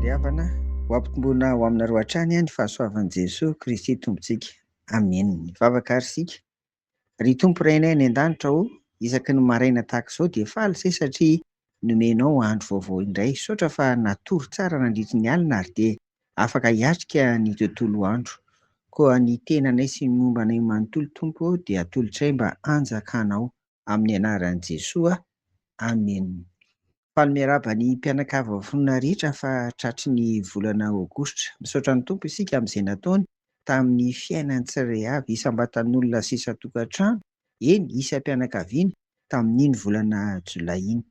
Ry havana, ho ampitomboina ho aminareo hatrany ny fahasoavan'i Jesoa Kristy Tompontsika. Amena. Mivavaka àry isika. Ry Tompo Rainay any An-danitra ô, isaky ny maraina tahaka izao dia faly say satria nomenao andro vaovao indray. Misaotra fa natory tsara nandritry ny alina ary dia afaka hiatrika ny tontolo andro. Koa ny tenanay sy ny momba anay manontolo Tompo ô dia atolotray mba hanjakanao. amin'ny anaran'i Jesoa, Amen. Faly miarahaba ny mpianakavy voafonona rehetra fa tratry ny volana Aogositra. Misaotra ny Tompo isika amin'izay nataony tamin'ny fiainan'ny tsirairay avy isam-batan'olona sy isan-tokantrano, eny isam-pianakaviana tamin'iny volana Jolay iny.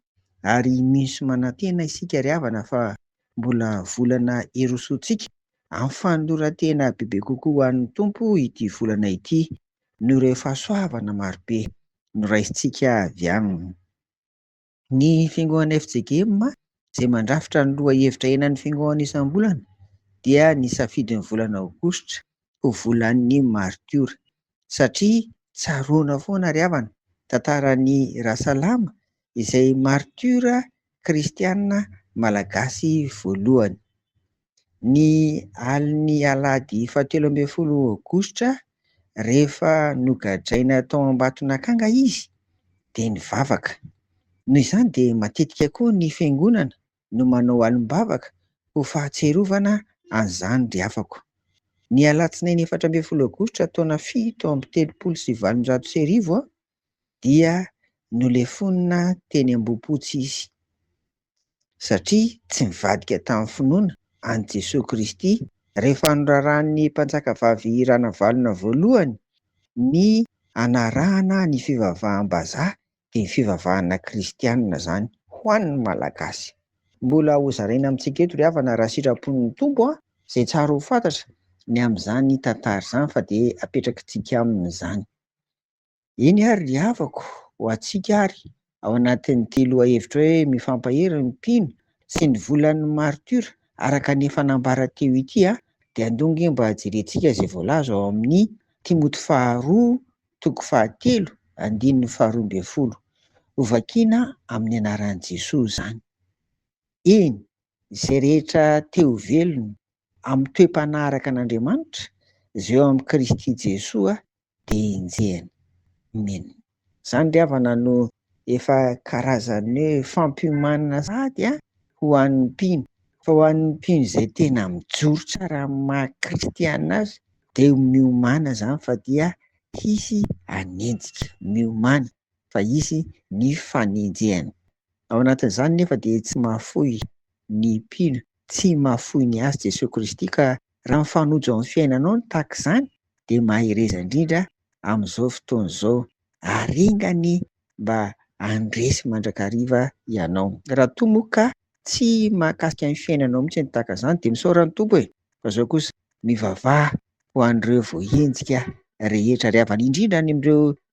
Ary mino sy manantena isika ry havana fa mbola volana hirosoantsika amin'ny fanoloran-tena bebe kokoa ho an'ny Tompo ity volana ity noho ireo fahasoavana marobe noraisintsika avy aminy. Ny fiangoan'ny FJKM izay mandrafitra ny lohahevitra henan'ny fiangoana isam-bolana dia nisafidy ny volana aogositra ho volan'ny maritiora satria tsaroana foana ry havana tantaran'i Rasalama izay maritiora kristiana malagasy voalohany. ny alin'ny alahady fahatelo ambin'ny folo aogositra rehefa nogadraina tao Ambatonakanga izy dia nivavaka. Noho izany dia matetika koa ny fiangonana no manao alim-bavaka ho fahatsiarovana an'izany ry afako. Ny alatsinainy efatra ambin'ny folo aogositra taona fito amby telopolo sy valonjato sy arivo aho dia nolefonina teny Ambohipotsy izy, satria tsy nivadika tamin'ny finoana an'i Jesoa Kristy. Rehefa noraràn'ny Mpanjakavavy Ranavalona Voalohany ny hanarahana ny fivavaham-bazaha, dia ny fivavahana kristianina izany ho an'ny Malagasy. Mbola hozaraina amintsika eto ry havana raha sitrapon'ny Tompo an! izay tsara ho fantatra ny amin'izany tantara izany fa dia apetrakitsika aminy izany. Eny ary ry havako, ho antsika ary, ao anatin'ity lohahevitra hoe Mifampahery ny mpino sy ny volan'ny martiora araka ny efa nambara teo ity a, dia andao ange mba jerentsika izay voalaza ao amin'ny Timoty faharoa toko fahatelo andininy faharoa ambin'ny folo. Hovakina amin'ny anaran'i Jesoa izany. Eny, izay rehetra te ho velona amin'ny toe-panahy araka an'Andriamanitra, izay eo amin'i Kristy Jesoa de enjehina. Min. Zany ry havana no efa karazan'ny hoe fampiomanana sahady an ho an'ny mpino fa ho an'ny mpino izay tena mijoro tsara amin'ny maha kristiana azy de miomana zany fa dia hisy hanenjika, miomana fa hisy ny fanenjehana. Ao anatin'izany nefa dia tsy mahafoy ny mpino, tsy mahafoy ny azy Jesoa Kristy ka raha mifanojo amin'ny fiainanao ny tahaka izany dia mahereza indrindra amin'izao fotoana izao ary enga anie mba handresy mandrakariva ianao. Raha toa moa ka tsy mahakasika ny fiainanao mihitsy ny tahaka izany dia misaora ny Tompo e! Fa izao kosa mivavaha ho an'ireo voahenjika rehetra ary havany indrindra any amin'ireo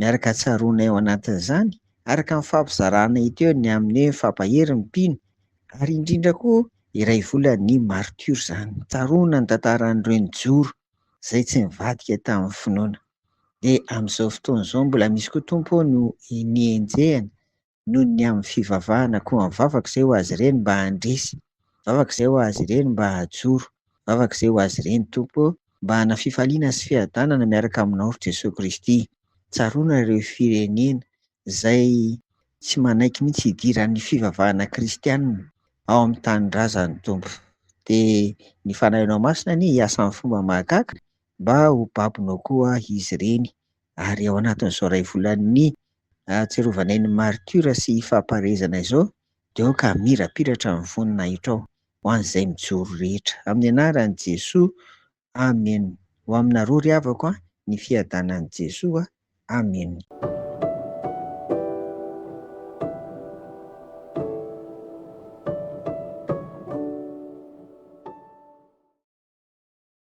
Miaraka tsaroanay ao anatin'izany, araka ny fampizarana teo, ny amin'ny hoe fampahery ny mpino, ary indrindra koa iray volan'ny martiora izany. Tsaroana ny tantaran'ireo nijoro, izay tsy nivadika tamin'ny finoana. Dia amin'izao fotoana izao, mbola misy koa Tompo ô no nihenjehana, noho ny amin'ny fivavahana koa mivavaka izay ho azy ireny mba handresy, mivavaka izay ho azy ireny mba hajoro, mivavaka izay ho azy ireny Tompo ô mba hana fifaliana sy fiadanana miaraka aminao ry Jesoa Kristy, tsaroana ireo firenena izay tsy manaiky mihitsy hidiran'ny fivavahana kristiana ao amin'ny tanindrazany Tompo, dia ny Fanahinao Masina anie hiasa amin'ny fomba mahagaga mba ho babonao koa izy ireny ary ao anatin'izao iray volan'ny ahatserovanay ny maritiora sy fampaherezana izao dia aoka hamirapiratra ny voninahitro ao ho an'izay mijoro rehetra amin'ny anaran'i Jesoa Amen ho aminareo ry havako a ny fiadanan'i Jesoa Amen.